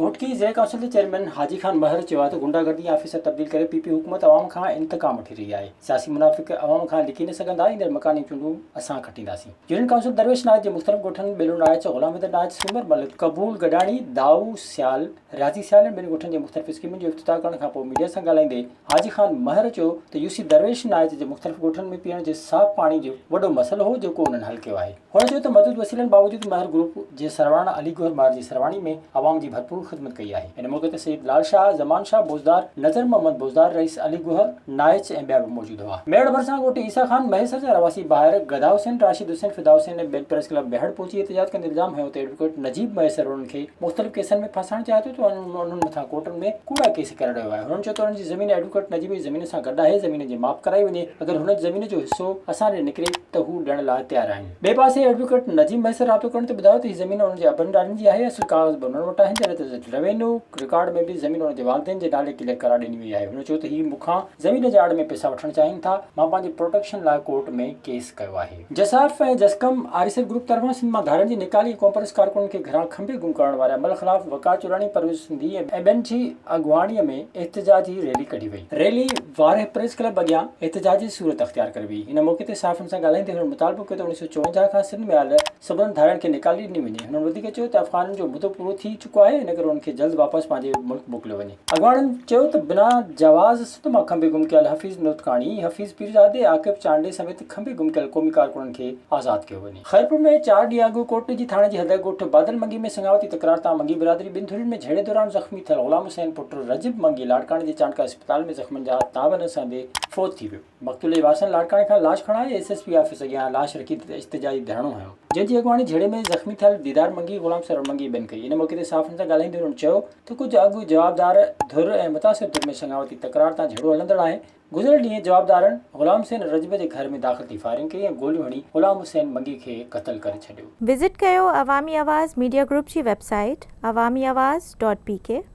گهوٽڪي ضلعي ڪائونسل جي چيئرمين حاجي خان مهر چيو آهي ته غنڊا گردي آفيسر تبديل ڪري پي پي حڪومت عوام کان انتقام وٺي رهي آهي سياسي منافق عوام کان لڪي نه سگهندا ايندڙ مڪاني چونڊون اسان کٽينداسين يونين ڪائونسل درويش ناچ جي مختلف ڳوٺن ٻيلو ناچ غلام حيدر ناچ سومر مل قبول گڏاڻي دائو سيال رياضي سيال ۽ ٻين ڳوٺن جي مختلف اسڪيمن جو افتتاح ڪرڻ کانپوء ميڊيا سان ڳالهائيندي حاجي خان مهر چيو ته يوسي درويش ناهيت جي مختلف ڳوٺن ۾ پيئڻ جي صاف پاڻي جو وڏو مسئلو هو جيڪو انهن حل ڪيو آهي. هن چيو ته محدود وسيلن باوجود مهر گروپ جي سرواڻ علي گوهر مهر جي سرواڻي ۾ عوام جي ڀرپور خدمت ڪئي آهي. ان موقعي تي سيد لال شاهه، زمان شاهه بوزدار، نظر محمد بوزدار، رئيس علي گوهر ناهيت ۽ ٻيا به موجود هئا. ميڙ ڀرسان ڳوٺ عيسيٰ خان مهيسر جا رهواسي ڀائر گدا حسين، راشد حسين، فدا حسين ۽ ٻين پريس ڪلب ميهڙ پهچي احتجاج ڪندي الزام هنيو ته ايڊووڪيٽ نجيب مهيسر انهن کي مختلف ڪيسن ۾ ڦاسائڻ چاهي ٿو ته انهن مٿان ڪورٽن ۾ ڪوڙا ڪيس ڪري رهيو آهي، هنن چيو ته انهن جي زمين ايڊووڪيٽ نجيب جي زمين سان گڏ آهي، زمين جي ماپ ڪرائي وڃي، اگر هن زمين جو حصو اسان ڏي نڪري ته هو ڏيڻ لاء تيار آهن. ٻئي پاسي ايڊووڪيٽ نجيب مهي سان رابطو ڪرڻ تي ٻڌايو ته هي زمين انهن جي ابن ڏاڏن جي آهي، اصل ڪاغذ به انهن وٽ آهن، جڏهن ته روينيو رڪارڊ ۾ به زمين انهن جي والدين جي نالي ڪليئر ڪرائي ڏني وئي آهي، هن چيو ته هي مون کان زمين جي آڙ ۾ پئسا وٺڻ چاهين ٿا، مان پنهنجي پروٽيڪشن لاء ڪورٽ ۾ ڪيس ڪيو آهي. جسارف ۽ جسقم آريسر گروپ طرفان سنڌ مان ڌارين جي نيڪالي ۽ ڪانفرنس ڪارڪنن کي گهران کنڀي گم ڪرڻ واري عمل خلاف وقار چولاڻي، پرويز سنڌي ۽ ٻين جي اڳواڻي ۾ احتجاجي ريلي ڪڍي وئي. ريلي وارهه پريس ڪلب اڳيان احتجاجي صورت اختيار ڪري وئي. هن موقعي تي صحافين سان ڳالهائيندي هنن مطالبو ڪيو ته اوڻيهه سؤ چوونجاهه کان سنڌ ۾ آيل سڀنن ڌارين کي نيڪالي ڏني وڃي. هنن وڌيڪ چيو ته افغانن جو مدو پورو ٿي چڪو آهي ان ڪري انهن کي جلد واپس پنهنجي ملڪ موڪليو وڃي. اڳواڻن چيو ته بنا جواز ته مان کنڀي گم ڪيل حفيظ نوتڪاڻي، حفيظ پيرزادي، عاقب چانڊئي سميت کنڀي گم ڪيل قومي ڪارڪنن کي آزاد ڪيو وڃي. خيرپور ۾ چار ڏينهن اڳ ڪوٽڏيجي ٿاڻي جي حد ڳوٺ بادل منگي ۾ سڱاوتي تڪرار تان منگي برادري ٻن ڌرين ۾ جهيڙي دوران زخمي ٿيل غلام حسين پٽ رجب منگي لاڙڪاڻي جي چانڊڪا اسپتال ۾ زخمين جا تاب نه سهندي فوت ٿي ويو. مقتول جي وارثن لاڙڪاڻي کان لاش کڻائي ايس ايس پي آفيس اڳيان لاش رکي احتجاجي ڌرڻو هنيو. جنهن جي اڳواڻي جهيڙي ۾ زخمي ٿيل ديدار منگي، غلام سرور منگي ٻين ڪئي. ان موقعي تي صحافين سان ڳالهائيندي انهن چيو. ته ڪجهه اڳ جوابدار ڌر ۽ متاثر ڌر ۾ سڱاوتي تڪرار تان جهيڙو هلندڙ آهي. گذريل ڏينهن جوابدارن غلام حسين رجب جي گهر ۾ داخل ٿي فائرنگ ڪئي ۽ گوليون هڻي غلام حسين منگي کي قتل ڪري ڇڏيو. وزٽ ڪيو عوامي آواز ميڊيا گروپ جي website Awami Awaz dot P ڪي.